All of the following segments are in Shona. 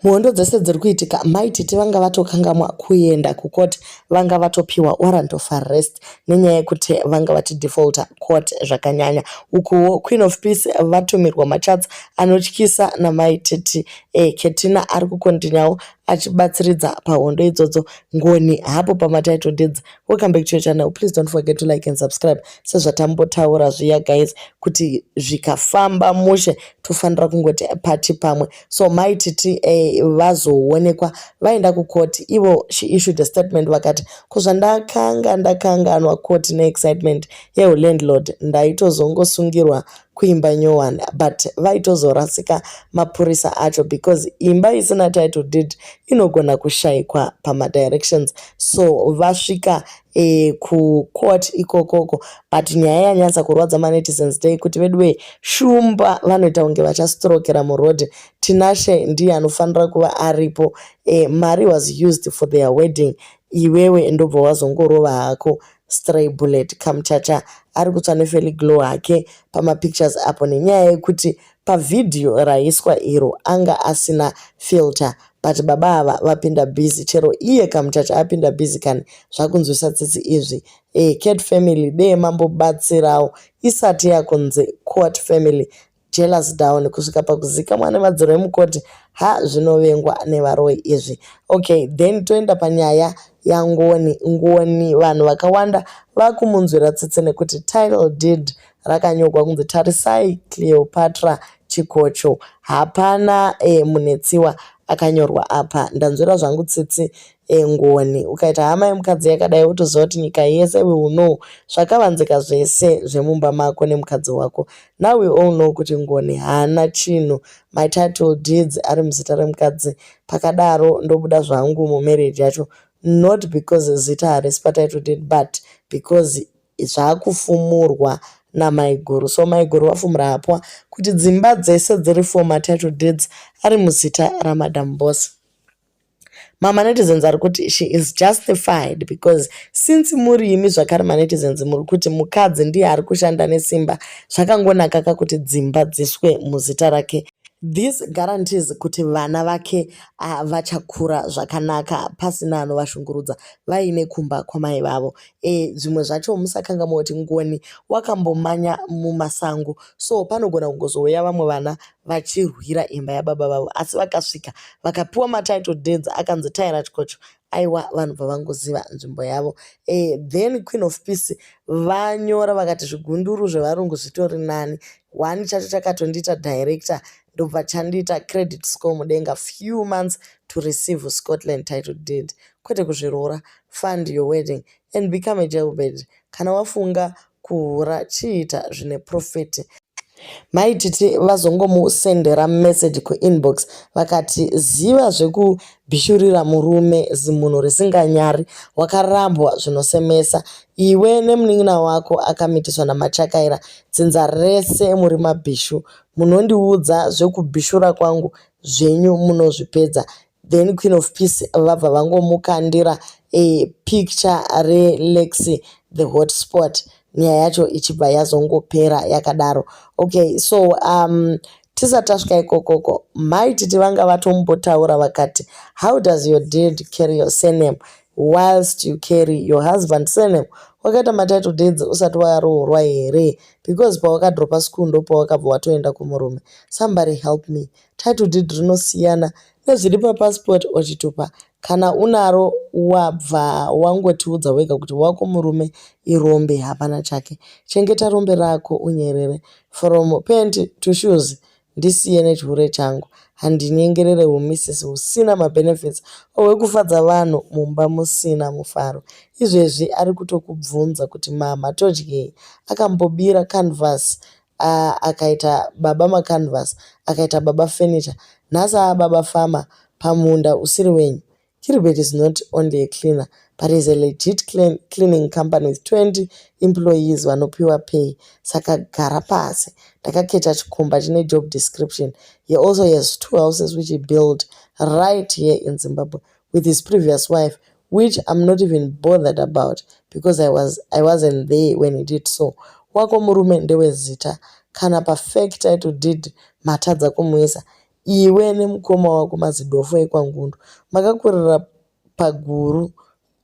muhondo dzese dziri kuitika mai tete vanga vatokangamwa kuenda kucourt vanga vatopiwa warrant of arrest nenyaya yekuti vanga vachidefaulta court zvakanyanya ukuwo queen of peace vatumirwa machats anotyisa namai tete e, ketina ari kukontinyawo achibatsiridza pahondo idzodzo ngoni hapo pamatitle deeds welcome back to your channel please don't forget to like and subscribe sezvatambotaura zviya guys kuti zvikafamba mushe tofanira kungoti pati pamwe so mai titi eh, vazoonekwa vaenda kukoti ivo she issued a statement vakati ko zvandakanga ndakanganwa koti neexcitement yehulandlord ndaitozongosungirwa kuimba nyowani but vaitozorasika mapurisa acho because imba isina title deed inogona kushaikwa pamadirections so vasvika e, kucourt ikokoko but nyaya yanyatsa kurwadza manetizens day kuti veduwee shumba vanoita kunge vachastrokera muroad tinashe ndiye anofanira kuva aripo e, mari was used for their wedding iwewe ndobva wazongorova hako Stray Bullet Kamchacha ari kutsva neFelly Glow hake pamapictures apo nenyaya yekuti pavhidhiyo raiswa iro anga asina filter but baba ava vapinda busy chero iye Kamchacha apinda busy kani zvakunzwisa tsitsi izvi eh Cat family dee mambobatsirawo isati yakunzi Court family jealous down kusvika pakuzikamwa nemadziro emukoti ha zvinovengwa nevaroi izvi okay then toenda panyaya yangoni ngoni vanhu vakawanda vakumunzwira tsitsi nekuti title deed rakanyogwa kunzi tarisai cleopatra chikocho hapana e, munetsiwa akanyorwa apa ndanzwira zvangu tsitsi engoni ukaita hama yemukadzi yakadai wotoziva kuti nyika yese we will know zvakavanzika zvese zvemumba mako nemukadzi wako now we all know kuti ngoni haana chinhu my title deeds ari muzita remukadzi pakadaro ndobuda zvangu mumarriage yacho not because zita harisi patitle deed but because zvaakufumurwa namaiguru so maiguru vafumura hapwa kuti dzimba dzese dziri for matitle deeds ari muzita ramadam boss mamanetizens ari kuti she is justified because since muri imi zvakare manetizens muri kuti mukadzi ndiye ari kushanda nesimba zvakangonaka ka kuti dzimba dziswe muzita rake this guarantees kuti vana vake ah, vachakura zvakanaka pasina anovashungurudza vaine kumba kwamai vavo e, zvimwe zvacho musakanga moti ngoni wakambomanya mumasango so panogona kungozouya vamwe vana vachirwira imba yababa vavo asi vakasvika vakapiwa matitle deeds akanzi taira chikocho aiwa vanhu bva vangoziva nzvimbo yavo e, then queen of peace vanyora vakati zvigunduru zvevarungu zvitori nani one chacho chakatondiita director ndobva chandiita credit score mudenga few months to receive scotland title deed kwete kuzviroora fund your wedding and become a jailbed kana wafunga kuhura chiita zvine profit mai titi vazongomusendera message kuinbox vakati ziva zvekubhishurira murume zimunhu risinganyari wakarambwa zvinosemesa iwe nemunin'ina wako akamitiswa namachakaira dzinza rese muri mabhishu munondiudza zvekubhishura kwangu zvenyu munozvipedza Then Queen of Peace vabva vangomukandira a picture reLexi the hotspot nyaya yacho ichibva yazongopera yakadaro okay so um tisati tasvika ikokoko mai titi vanga vatombotaura vakati how does your dad carry your surname whilst you carry your husband surname wakaita matitle deeds usati waroorwa here because pawakadropa school ndo pawakabva watoenda kumurume somebody help me Title deed rinosiyana nezviri papassport ochitupa kana unaro wabva wangotiudza wega kuti wako murume irombe hapana chake. Chengeta rombe rako unyerere. From pant to shoes ndisiye nechihure changu. Handinyengerere humisisi husina mabenefits or hwekufadza vanhu mumba musina mufaro. Izvezvi ari kutokubvunza kuti mhamha todyei. Akambobira canvas aa akaita baba macanvas akaita baba furniture nhasi aababa farmer pamunda usiri wenyu Gilbert is not only a cleaner but is a legit cleaning company with 20 employees vanopiwa pay saka gara pasi ndakaketa chikomba chine job description he also has two houses which he built right here in zimbabwe with his previous wife which I'm not even bothered about because I, was, I wasn't there when he did so. Wako murume ndewezita kana pafake title deed matadza kumuisa iwe nemukoma wako mazidofo ekwangundu makakurira paguru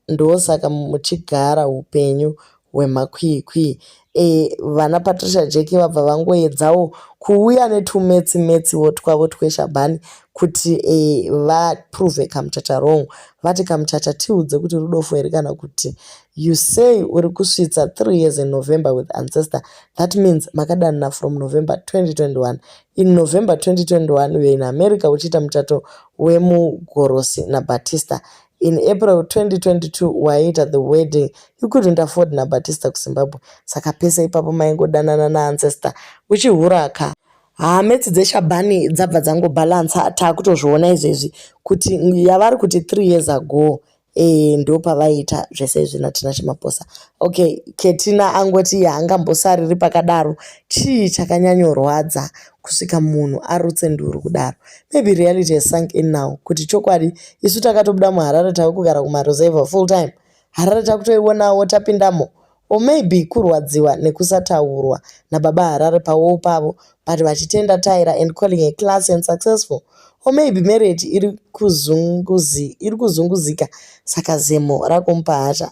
ndosaka muchigara upenyu wemakwikwi. Eh, vana Patricia Jeki vabva vangoedzawo kuuya netumetsi metsiwo twavo tweshabhani kuti eh, vaprove kamuchacha wrong vati kamuchacha tiudze kuti rudofo here kana kuti you say uri kusvitsa three years in november with ancestor that means makadanana from november 2021 in november 2021 uye in america uchiita muchato wemugorosi nabatista In April 2022 waiita the wedding you couldn't afford naBatista kuZimbabwe saka pese ipapo maingodanana naancestor uchihura ka haa metsi dzeshabhani dzabva dzangobalansa taakutozviona izvezvi kuti yavari kuti 3 years ago e, ndo pavaiita zvese izvi natina chimaposa okay ketina angoti haangambosariri pakadaro chii chakanyanyorwadza kusvika munhu arutse nduru kudaro maybe reality has sunk in now kuti chokwadi isu takatobuda muharare tave kugara kumaruzevha full time harare takutoionawo tapindamo or maybe kurwadziwa nekusataurwa nababa harare pawowo pavo but vachitenda tyra and calling a class and successful or maybe marriage iri kuzunguzika saka zemo rakomupa hasha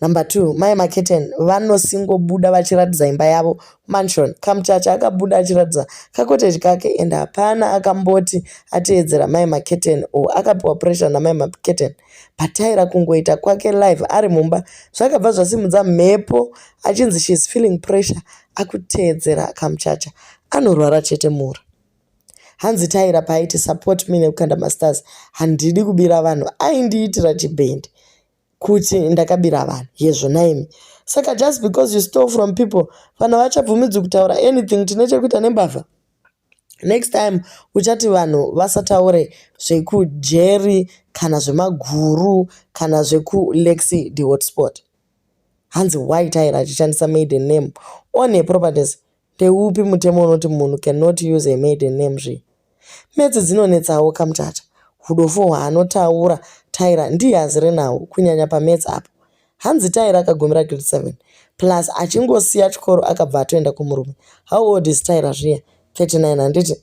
Number two, mai Maketen vanosingobuda vachiratidza imba yavo mansion. Kamuchacha akabuda achiratidza kakoteji kake and hapana akamboti ateedzera mai Maketen or akapiwa pressure namai Maketen. Pataira kungoita kwake live ari mumba zvakabva zvasimudza mhepo achinzi she is feeling pressure akuteedzera kamuchacha. Anorwara chete mura. Hanzi Taira paaiti support me nekukanda masters handidi kubira vanhu aindiitira chibhendi. kuti ndakabira vanhu hezvo naimi saka just because you stole from people vanhu havachabvumidzi kutaura anything tine chekuita nembavha next time uchati vanhu vasataure zvekujeri kana zvemaguru kana zvekulexi the hotspot hanzi why tyra achishandisa maiden name on her properties Ndeupi mutemo unoti munhu cannot use a maiden name zve? Metsi dzinonetsawo kamtata. Hudofo hwaanotaura Tyra ndiye azere naho kunyanya pametsi apo. Hanzi Tyra akagumira grade 7 plus achingosiya chikoro akabva atoenda kumurume. How old is Tyra zviya? 39 handiti?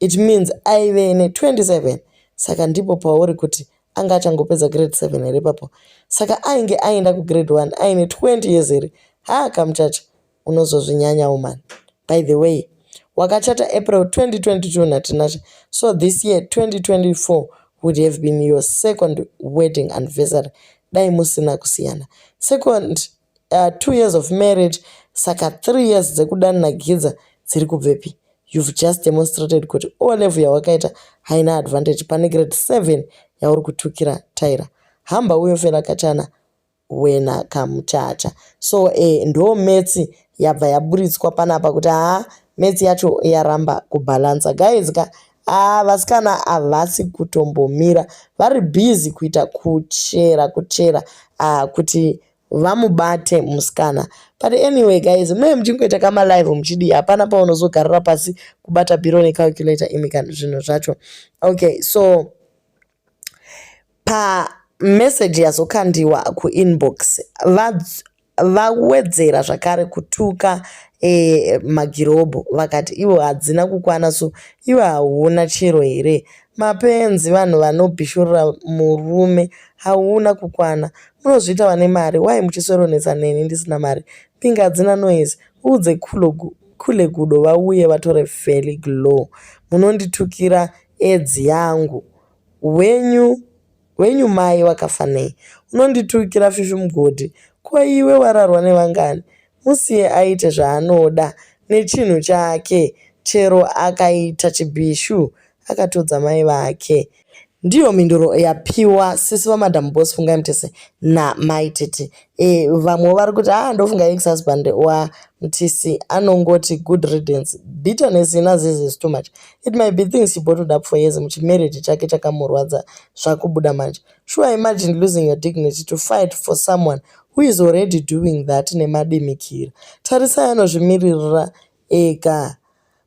It means aive ne 27 saka ndipo pauri kuti anga achangopedza grade 7 here papo saka ainge aenda kugrade 1 aine 20 years here haa kamuchacha unozozvinyanyawo mani by the way wakachata april 2022 natinashe so this year 2024 would have been your second wedding anniversary dai musina kusiyana second uh, two years of marriage saka three years dzekudani nagidza dziri kubvepi you've just demonstrated kuti o level yawakaita haina advantage pane grade seven yauri kutukira taira hamba uyo fela kachana wena kamuchacha so eh, ndo metsi yabva yaburitswa panapa kuti haa metsi yacho yaramba kubhalansa guys ka aa vasikana havasi kutombomira vari busy kuita kuchera kuchera aa kuti vamubate musikana but anyway guys mune muchingoita kama live muchidii hapana paunozogarira pasi kubata biro necalculator imi kana zvinhu zvacho okay so pa message yazokandiwa kuinbox vawedzera zvakare kutuka e, magirobho vakati ivo hadzina kukwana so ivo hauna chero here mapenzi vanhu vanobhishurira murume hauna kukwana munozviita vane mari why muchisoronetsa neni ndisina mari pinga hadzina noise uudze kule gudo vauye vatore valley glow munonditukira edzi yangu wenyu wenyu mai wakafanei unonditukira fifi mugodi ko iwe wararwa nevangani Musiye aite zvaanoda nechinhu chake chero akaita chibhishu akatodza mai vake. Ndiyo mhinduro yapiwa sisi vamadam boss Fungai Mutese namai Tete. E, vamwe vari kuti ah ndofunga ex husband wa Mutisi anongoti good riddance. Bitterness ina Zizi is too much. It might be things she bottled up for years muchimarriage chake chakamurwadza zvakubuda manje. Sure imagine losing your dignity to fight for someone who is already doing that nemadimikira. Tarisai anozvimiririra ega.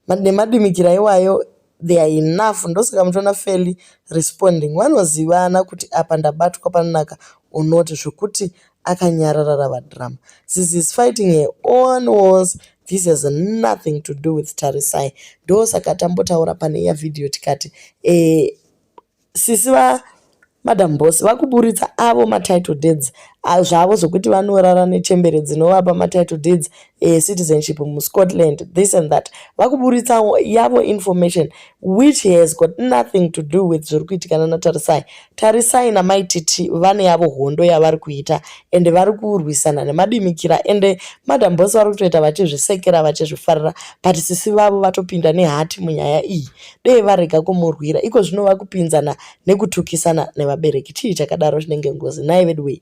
Nemadimikira iwayo they are enough ndosaka muchiona fairly responding vanozivana kuti apa ndabatwa panonaka or not zvekuti akanyarara rava drama this is fighting her own wars this has nothing to do with tarisai ndosaka tambotaura pane iya vhidhiyo tikati eh, Sisi va madam boss vakuburitsa avo matitle deeds zvavo zvokuti vanorara nechembere dzinovapa matitle deeds ecitizenship eh, muscotland this and that vakuburitsa yavo information which has got nothing to do with zviri kuitikana natarisai tarisai namaititi vane yavo hondo yavari kuita ende vari kurwisana nemadimikira ende madam boss vari kutoita vachizvisekera vachizvifarira but sisi vavo vatopinda nehati munyaya iyi dei varega kumurwira iko zvino vakupinzana nekutukisana nevabereki chii chakadaro chinenge ngozi nhai veduwei